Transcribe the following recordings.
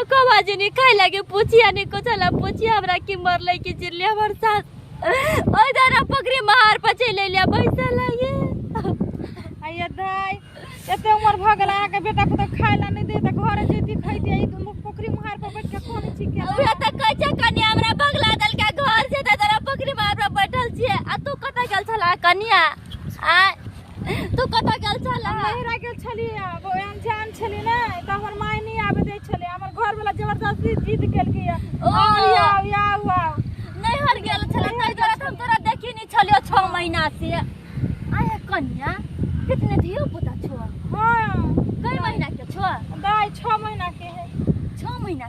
एको बाजी नहीं खाए लगे पूछिया नहीं कुछ ला पूछिया हमरा की मर ले की चिल्ले हमर साथ ओई दारा पकड़ी मार पचे ले लिया पैसा लागे आइए दाई एते उमर भ गेल अहाँ के बेटा पुतोह खाय ला नहीं दे त घरे जैती खैती आई तुम पोखरी मुहार पर बैठ के कोन छी के उहे त कहै छै कन्या हमरा बगला दल के घर से त दारा पकड़ी मार पर बैठल छिए आ तू कत गेल छला कन्या आ तू कतऽ गेल छल हम नहिरा गेल छलियै आब ओहि अनजान छलियै ने तऽ हमर माय नहि आबे दै छलै हमर घरवला जबरदस्ती जिद केलकै या ओ। आउ आउ आउ आउ नैहर गेल छल ताहि दुआरे तऽ हम तोरा देखी नहि छलियो छओ महीना से आय कन्या कितने धियो पुता छो हाँ कई महीना के छो दाइ छओ महीना के है छओ महीना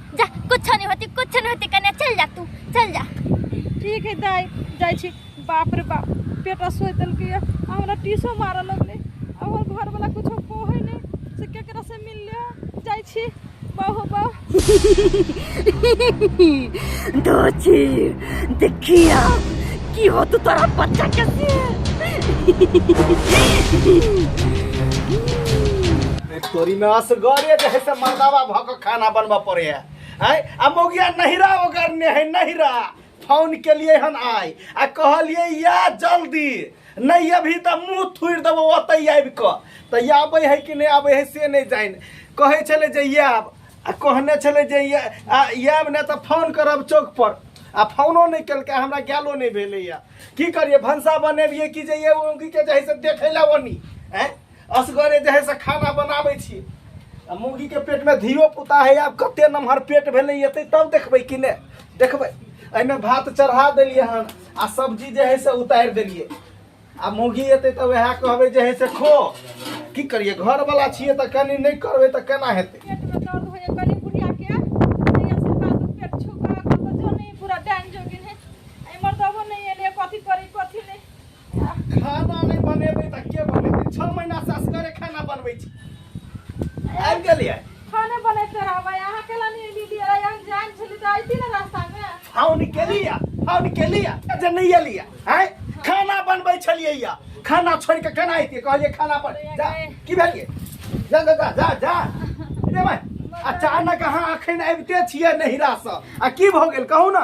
जा कुछ नहीं होती कुछ नहीं होती कन्या चल जा तू चल जा ठीक है दाई जाइ छी बाप रे बाप पेटा सोच देलकै या आ हमरा टीसो मारऽ लगलै आ हमर घरवला कुछो कहै नहि से केकरा से मिल ले जाइ छी बहु बहु दोची देखिया की हो तू तोरा बच्चा के तोरी में असगरे जे है से मर्दावा भक खाना बनबऽ पड़े है आय आ मौगिया नहिरा ओकर ने है नहिरा फोन के लिए हन आय आ कहलिए या जल्दी नहीं अभी तऽ मुँह थुड़ि देबो ओतै आबि कऽ तऽ या आबै है कि नहि आबै है से नहि जानि कहै छलै जे या आब आ कहने छलै जे या आ या आब नहि तऽ फोन करब चौक पर आ फोनो नहि केलकै हमरा गैलो नहि भेलैया की करियै भनसा बनेबियै कि जे ये मौगी के जे है से देखै लए ओनी आँय असगरे जे है से खाना बनाबै छी आ मुर्गी के पेट में धियो पुता है आब कते नमहर पेट भेलै एतै तब देखबै कि ने देखबै एहिमे भात चढ़ा देलियै हन आ सब्जी जे है से उतारि देलियै आ मुर्गी एतै तऽ वएह कहबै जे है से खो की करियै घर वाला छियै तऽ कनी नहि करबै तऽ केना हेतै पेट में दर्द हो या गली बुढ़िया के नहीं असर का तो पेट छुपा का तो जो नहीं पूरा डैन जोगिन है आई मर्दबो नहीं है ले कथी करी कथी नहीं खाना नहीं बनेबे त के बनेबे 6 महीना से असगरे खाना बनबै छी आबि गेलियै खाने बनैते रहबै अहाँ केला नहि एली लिए अहाँ जान छली तऽ अइती ने रास्ता में फोन केलिया फोन केलिया जे नहीं एलिया हैं खाना बनबै छलियै या खाना छोड़ के केना अइतियै कहलियै खाना पर जा की भेलियै जा जा जा जा जा रे माय अचानक अहाँ अखन अबिते छियै नहिरा से आ की भऽ गेल कहू ना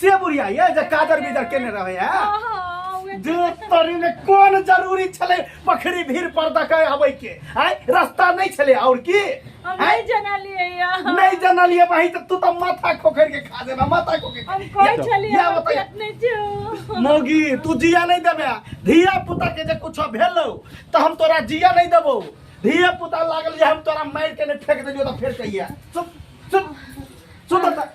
से बुढ़िया ये जे काजर बीजर केने रहे है हाँ, हाँ, उहे जे तोरी में कोन जरूरी छले बखरी भीड़ पर दके आबै के आय रास्ता नहीं छले और की हम आय नहीं जनलियै या। नहीं जानलिए भाई तो तू तो माथा खोखर के खा देना माथा खोखर हम के। कहै या- छलियै या हम बताइए। पेट नहि छौ। मौगी तू जिया नहीं देबे धिया पुता के जे कुछ भेलो तो हम तोरा जिया नहीं देबो धिया पुता लागल जे हम तोरा मार के ने फेंक देलियो तो फेर कहिया चुप चुप सुन त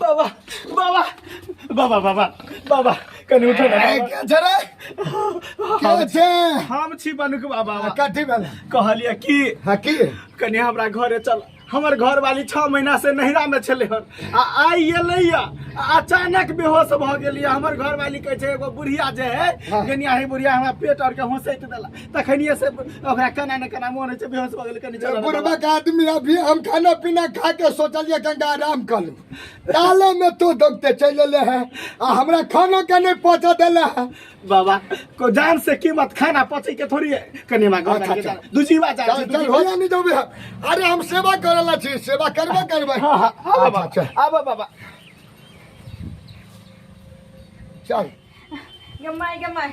बाबा बाबा बाबा बाबा बाबा कनी उठो ना ए, के छै रे? के छै? हम छी बनुक बाबा आ, कथी भेल? कहलिए कि हाँ, की? कनी हमरा घरे चल हमर घर वाली छह महीना से नहिरा में छले हन आ आई एलैय आ अचानक बेहोश भ गेलिए हमर घर वाली कहे छै एगो बुढ़िया जे है हाँ। गनिया है बुढ़िया हमरा पेट और के होसैत देला तखनिए से ओकरा केना ने केना मोन होइ छै बेहोश भऽ गेल कनि चलऽ ने बाबा। बुढ़बक आदमी अभी हम खाना पीना खा के सोचलिए कनिटा आराम कर लूँ ताले में तो दौड़ते चल अले है आ हमरा खाना के नहीं पहुँचा दिले है बाबा को जान से कीमत खाना पचे के थोड़ी है कनि हमरा घर अच्छा, लगे अच्छा। जाना। दू जीवा जान चल से, दू चल जीवा। भैया नहीं जाबे हम अरे हम सेवा करला छी सेवा करबे करबे हाँ, हाँ, आबो अच्छा, बाबा, अच्छा। आबो बाबा चल गमाय गमाय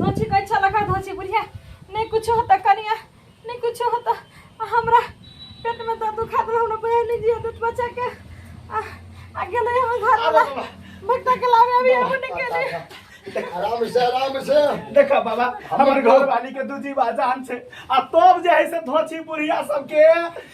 धोची कहै छल एकर धोची बुढ़िया नहि कुछो होता कनिया नहि कुछो होता आ हमरा पेटमे दर्द दुखा देल हमरा बहन नहि जियो देत बच्चाके आ आ गेलै हम घरवला भक्ता के लाबे अभी हम नहि गेलै आराम से आराम से देखा बाबा हमर घर वाली के दूजी बाजान छै आ तब जे है से धोची बुढ़िया सबके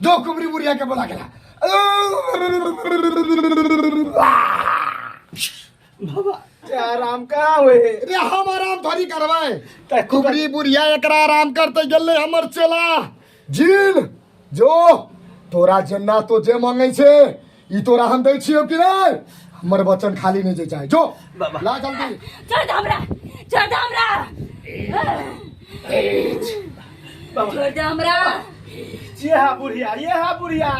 दो कुबरी बुढ़िया के बोला गेला बाबा ते आराम कहाँ हुए रे हम आराम थोड़ी करवाए ते खूब कुबरी बुढ़िया एकरा आराम करते गेले हमर चेला जील जो तोरा जेना तो जे मांगे छे ई तोरा हम दै छियौ कि नहि हमर वचन खाली नहि जे चाहे जो बाबा। ला जल्दी छोड़ दे हमरा छोड़ दे हमरा बाबा छोड़ दे हमरा ये हा बुढ़िया ये हा बुढ़िया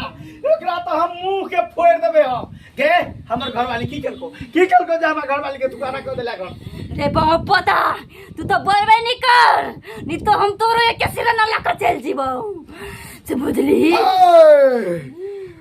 एकरा तो हम मुंह के फोड़ देबे हम गे हमर घरवाली की केलको की केलको जे हमर घरवाली के दुकाना कर देला घर रे बाबा पता तू तो बोलबे नहीं कर नहीं तो हम तोरो एक सिर ना लाकर चल जीबो से बुझली ए!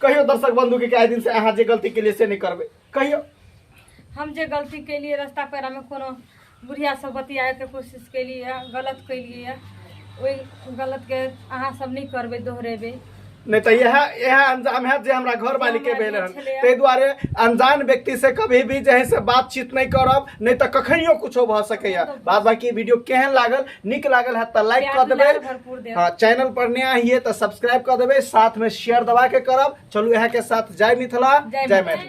कहियो दर्शक बंधु के कए दिन से अहाँ जे गलती के लिए से नहीं करबे कहियो हम जे गलती केलिए रास्ता पेरा में कोनो बुढ़िया सब बतियाए के कोशिश केलिए गलत केलिए ओहि गलत के अहाँ सब नहीं करबे दोहरेबे नहीं तो यह यह अंजाम है जे हमरा घर वाली के भेल हन ताहि दुआरे अनजान व्यक्ति से कभी भी जे है से बातचीत नहीं करब नहीं तो कखनियो कुछो भ सकैया बाद बाकी वीडियो केहन लागल नीक लागल है तो लाइक प्यार कर देबे दुलार भरपूर देब। हाँ चैनल पर नया हिए तो सब्सक्राइब कर देबे साथ में शेयर दबा के करब चलू यहाँ के साथ जय मिथिला जय जय मैथिली। मैथिली